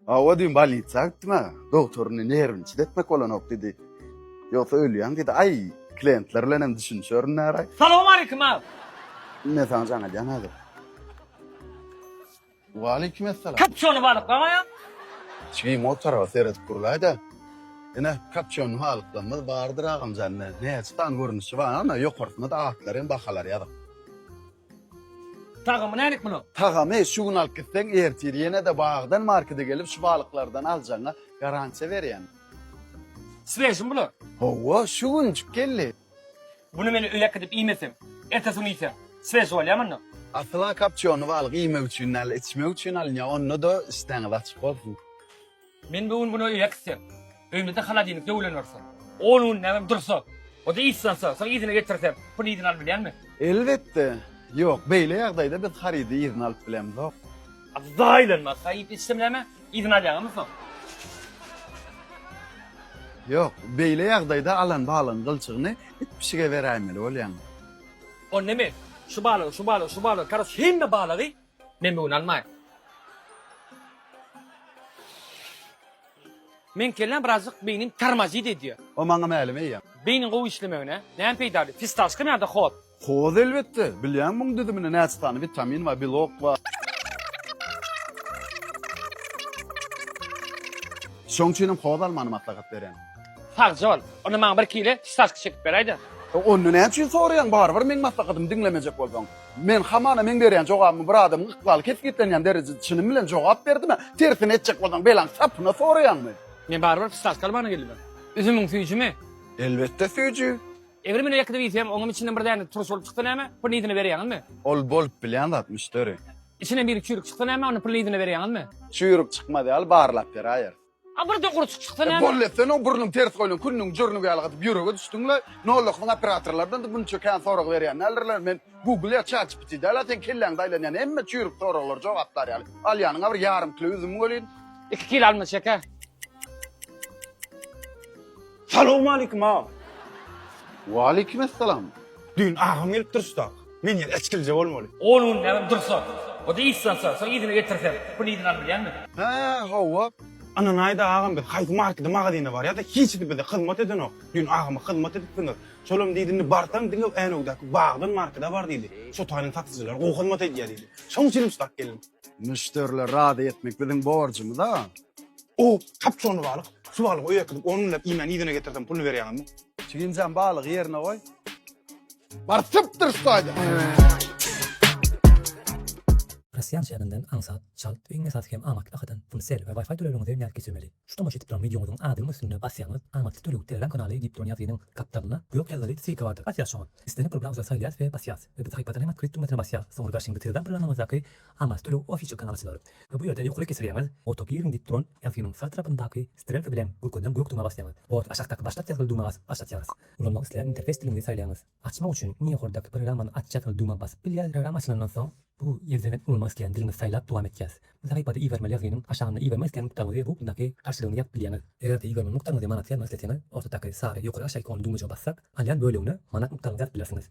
Hawa düýn bolnitsa gitdim-ä. Dogtoryny nerwini çidetmek bolanok diýdi. Ýogsa ölýäň diýdi. Aý, klientler bilen hem düşünişerin näraý. Salowmaleýkim aga. Men saňa jaň edýän häzir. Waleýkim essalam. Kapçony balyklamaýaň. Çygyň o tarapa seredip gurlaý-da. Ine, kapçony balyklamyz bardyr agamjan. Näçe sany görnüşi bar, ana, ýokarsyna-da atlary hem bahalary ýazyk. Tagamy nälik munuň? Tagamy şu gün alyp gitseň ertir ýenede bagdan markede gelip şu balyklardan aljagyňa garantiýa berýän. Swejimi bular? Howwa şu günjik geldi. Buny men öýe äkidip iýmesem, ertesi gün iýsem swej bolýamy onda? Asyla kapçýony balyk iýmek üçin däl içmek üçin alynýar onda-da işdäňiz açyk bolsun. Men bu gün güne öýe gitsem, öýümizde holodilnik döwülen bolsa, on gün näme dursa, o-da yzslansa, soň yzyna getirsem, puly yzyna alyp bilýänmi? Elbetde, ýok. Beýle ýagdaýda biz harydy yzyna alyp bilemzok. Abzaa aýlanmaz, haý iýip içsem näme, yzyna alýaňamy soň? Ýok, beýle ýagdaýda alan balygyň gylçygyny it-pişige beräýmeli bolýaň. Onda men şu balygy, şu balygy, şu balygy, karoç, hemme balygy Men bu gün almaýyn. Meň kellem birazjyk beýnim tormozit edýär. O maňa mälim eýýäm. Beýniň gowy işlemegine näme peýdaly? Fistashkami ýa-da hoz? Hoz elbetde. Bilýäňmi muň düzüminde näçe sany witamin bar, belok bar. Şoň üçin hem hoz almany maslahat berýän. Sagja bol. Onda maňa bir kile fistashka çekip beräýdä. Onda näme üçin soraýaň? Barybir meň maslahatymy diňlemejek bolsaň. Men hamana meň berýän jogabymy bir adamyň ykbaly kesgitlenýän derejede çynym bilen jogap berdimä? Tersine etjek bolsaň belaň sapyna soraýaňmy? Men barybir psihology almana geldim men. Üzümiň süýjümi? Elbetde süýji. Eger men ýekedip iýsem, oňam içinden bir däne turş bolup çyksa näme? Pyrnydyny berýäňizmi? Ol bolup bilýän zat, müşderi. Içinden biri çüýrük çyksa näme? Ony pyrnydyny berýäňizmi? Çüýrük çykmaz ýaly barlap beräýeris. A birden gurçuk çyksa näme? Bolly sen o burnuň ters goýlan künniň jürnügi ýaly gaty ýürege düşdüňle. Nollakyň operatorlardan-da munça kän sorag berýän däldirler. Men Google ýa ChatGPT däl-ä seň kelläňde aýlanýan hemme çüýrük soraglary jogaplar ýaly. Alýanyň-a bir ýarym kilo üzüm welin. Iki kilo alma çeke. Salowmalikim aga. Waleýkim essalam. Düýn agam gelip durşda. Men ýene içgilje bolmaly. On gün näme dursa. O-da iş salsa. Soň yzyna getirsem. Pul yzyna al bilýäňmi? Hä, hawa. Ynanaýda agam biz haýsy markede magazine barýada hiç bize hyzmat edenok. Düýn agama hyzmat edipsiňiz. Şolam diýdi indi barsaň diňe Änewdäki Bagdan markede bar diýdi. Şo taýdan satyjylar gowy hyzmat edýär diýdi. Şoň üçin uçrap geldim. Müşderileri razy etmek biziň borjumyz-a. O, kapçony balyk, su balygy öýe äkidip, ony münläp iýmän yzyna getirsem, puluny berýäňizmi? Çigimjan balygy ýerine goý. Baryp çyp dyryş taýdan. Rossiýa şäherinden aňsat, çalt, iň esasy hem amatly bahadan pul, sel we Wi-Fi töleginiňizi ýerine geçirmeli. Şu tomaşa edip duran wideoňyzyň adynyň üstünde basýaňyz, Amatly töleg Telegram kanaly diýip duran ýazgynyň gapdalynda gök ýazgyly ssilka bardyr. Basýas şoňa. Islendik programy saýlaýas we basýas. Biz sahypadan hem otkryt düwmesine basýas. Soňra garşyňda Telegram programyňyzdaky Amal töleg ofisi çykan alyjylar we bu ýerde ýokaryk geçirýäňiz, Auto Gearing diýip duran ýazgynyň sag tarapyndaky strelka bilen görkezilen gök dümä basýaňyz. Borty aşakdaky Başlat ýazgyly dümä basyp aç açýarys. Ulanmak isleýän interfeýs diliňizi saýlaýaňyz. Açmak üçin iň ýokardaky Programmany aç ýazgyly dümä basyp bilýäs. Programma açylandan soň, bu ýerden hem ulanmak isleýän diliňizi saýlap dowam etýäs. Bu sahypada ibermeli ýazgynyň aşagynda ibermek isleýän nukdaňyzy we upmdaky garşylygyny ýazyp bilýäňiz. Eger-de ibermeli nukdaňyzy manata ýazmak isleseňiz, ortadaky sary ýokary-aşaýyk only düwmejige bassak, alýan bölegine manat nukdaňyzy ýazyp bilersiňiz.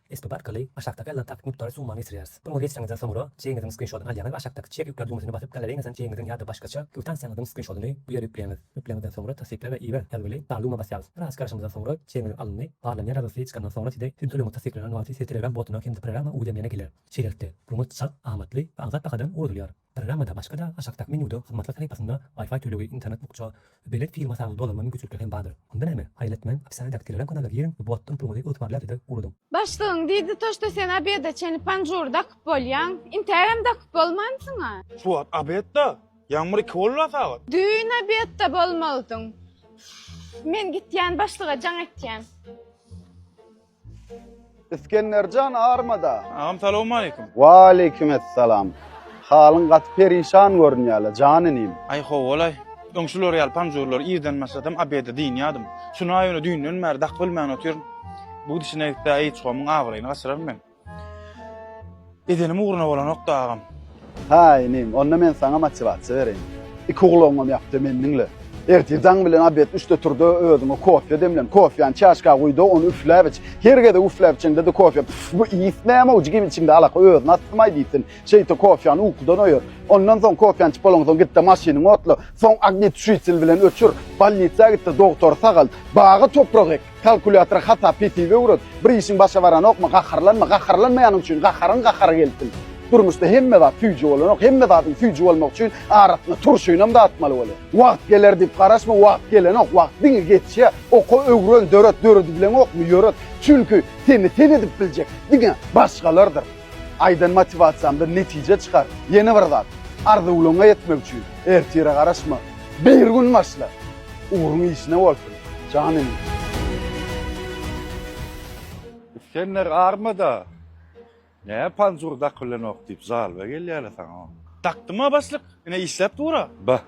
Esbap arkaly aşakdaky alynan takyk mukdary summa geçirýäris. Buny geçireňizden soňra, çegiňiziň skrinşodyny alýaňyz we aşakdaky Çek ýükle düwmesine basyp, galareýiňizden çegiňiziň ýa-da başgaça kwitansiýaňyzyň skrinşodyny bu ýere ýükleýäňiz. Ýükleňizden soňra Tassykla we iber ýazgyly dar düwmä basýaňyz. Biraz garaşandan soňra, çegiňiz alyndy. Barlanýar ýazgysy çykandan soňra size siziň tölegiňiz tassyklanan wagty size Telegram botuna hem-de programma Udemy-ne geler. Şeýlelikde, ruňňut çalt, amatly we agzap bahadan ugradylyar. Programmada başga-da aşakdaky menýuda hyzmatlar sahypasynda Wi-Fi tölegi, internet bukja, belet fil masagyny dolanma mümkinçilikleri hem bardyr. Onda näme? Haýylatmän, opisanýadaky Telegram kanala giriň we botdan puluňyzy ygtybarlyadada ugradyň. Başlygyň diýdi to şto sen obeda çeni panjur dakyp bolýaň, intagam dakyp bolmansyňa. Şu wagt obedda, ýagmyr iki bolda sagat. Düýn obedda bolmalydyň. Men gitýän başlyga jaň etýän. Isgenderjan armada. Agam salowmaleýkim. Waleýkim essalam. Halyň gaty perişan görünýäle, jan inim. Aý howalaý. Öň şular ýaly panjurlary irden başlasam obede dynýadym. Şunaý ony düýnden bäri dakyp bilmän otyryn. Bu gidişine gitse Aýyçgomyň abraýyny gaçyraryn men. Edenim ugruna bolanok da agam. Hä inim, onda men saňa motiwasiýa bereýin. Iki gulagyňam ýap-da meni diňle. Ertir jaň bilen obed üçde tur-da, özüňe kofýa demlen. Kofýany çaşka guý-da, ony üfläp iç. Her gezek üfläp içeňde-de kofýa, Pff, bu ys näme-ow, jigim içiňde alaka, özüni astym-aý diýsin. Şeýte kofýany ukudan oýar. Ondan soň, kofýany içip bolaňsoň, git-de maşynyňy otla. Soň ognituşitel bilen öçür. Bolnisa git-de dogtory sagalt. Baga toprak ek. Kalkulýatora hasap-hesip öwret. Bir işiň başa baranokmy, gaharlanma. Gaharlanmaýanyň üçin gaharyň gahary gelsin. Durmuşda hemme zat süýji bolanok. Hemme zadyň süýji bolmagy üçin arasynda turşynam datmaly bolýar. Wagt geler diýip garaşma, wagt gelenok. Wagt diňe geçýär. Oka, öwren, döret. Döredibileňokmy, ýöret. Çünki seni sen edip biljek diňe başgalardyr. Aýdan motiwasiýamdan netije çykar. Ýene bir zat, arzuwlaryňa ýetmek üçin ertire garaşma. Bir gün başla. Ugruň işine bolsun, jan inim. Isgender armyda. Näme panjur dakylanok diýip žalba gelýäle saňa. Dakdyma başlyk, ine işläp dur-a. Ba.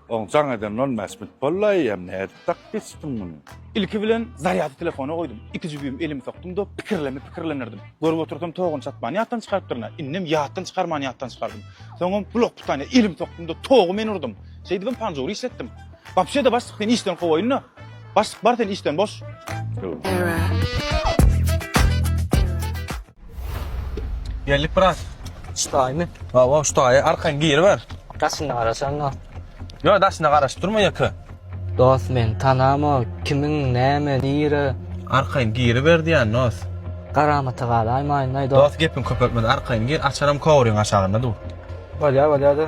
Oň jaň eden nol mäsmit bollaý ýa nädip dakyp geçipdiň muny. Ilki bilen zarýady telefona goýdum. Iki jübim elimi sokdum-da pikirleme pikirlenirdim. Görüp otursam togany çatman ýatdan çykarypdyryn-a. Indem ýatdan çykarman ýatdan çykardym. Soňam blok pytanyýa elimi sokdum-da togy men urdum. Şeýdibem panjury işletdim. Wapşe-de başlyk seni işden kowaýyn-da. Başlyk bar sen işden boş. Error. Geldik brat. Ştaýmy? Hawa, ştaýy arkaň giriber. Daşyna garaşan da. Ýok, daşyna garaşyp durma ýeke. Dost men tanama kimiň näme nire. Arkaň giriber diýän dost. Garamata galaýmaýyn-laý dost. Dost gepiň köpeltme arkaň gir, açaram kowryň aşagynda dur. Bolýar, bolýar-da.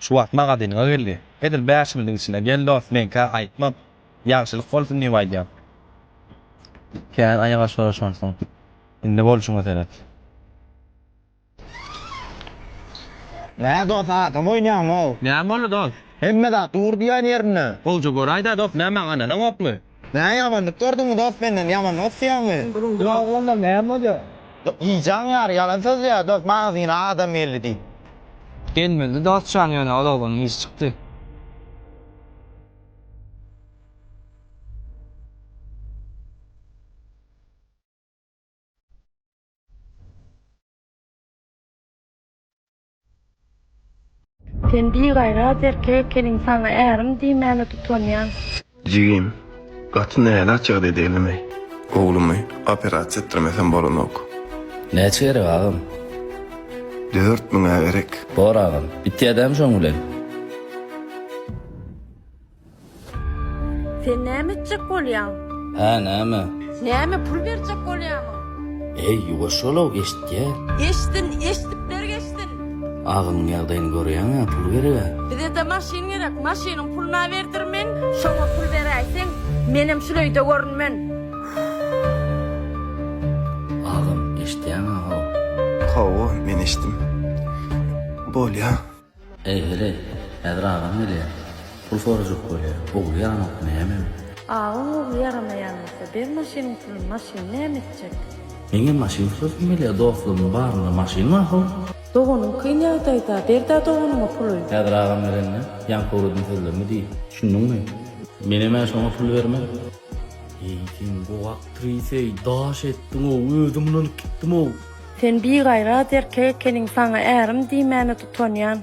Şu wagt magazynyňa geldi. Edil bäş günlüň içinde gel dost, meňkä aýtmak. Ýagşylyk bolsun diýip aýdýan. Kän aýak aşyr şonsoň. Indi bolşuňa seret. Nä dost adam oýnaýaň-ow. Näme boldy dost? Hemme zat dur diýýän ýerinde. Gowja göräýdä dost näme gananaňokmy? Nä ýamanlyk gördüňmi dost menden ýamanlyk isleýäňmi. Ýok onda näme bolýar. Iýjäň ýary ýalan sözleýär dost magzyna adam geldi diýip. Gelmezdi dost jan ýöne ol oglanyň işi çykdy. Sen bigaýrat erkek ekeniň saňa ärim diýmäne tutanýan. Jigim, gaty nälet jigdi edeýlimi? Oglumy operasiýa etdirmesem bolanok. Näçe gerek agam? Dört müňä gerek. Bor agam, bitýädämi şoň bilen? Sen näme etjek bolýaň? Hä, näme? Näme, pul berjek bolýaňmy? Eý, ýuwaş bol-ow, eşitýär. Eşitsin, eşidip berk eşitsin. Agymyň ýagdaýyny görýäň-ä, pul ber-ä. Bize-de maşyn gerek, maşynyň puluna berdir men. Şoňa pul beräýseň, menem şul öýde görünmen. Agam, eşitýäň-ä-how. Hawa, men eşitdim. Bolýa. Eý, heleý, häzir agaň gelýär. Pul sorajak bolýar. Ogly ýaranok nämem? Agaň ogly ýaramaýan bolsa, ber maşynyň pulun, maşyny näme etjek? Meňem maşyn sürasym gelýär, dostlarymyň barynda maşyn mahal. Doganyň kyn ýagdaýda, ber-dä doganyňa puly. Häzir agam gelende, ýaňky ugradym sözlerimi diý, düşündiňmi? Menem-ä şoňa pul bermez. Eý, sen bu aktriseý, daş etdiň-ow, özüm ynanyp gitdim-ow. Sen bigaýrat erkek ekeniň saňa ärim diýmäne tutanýan.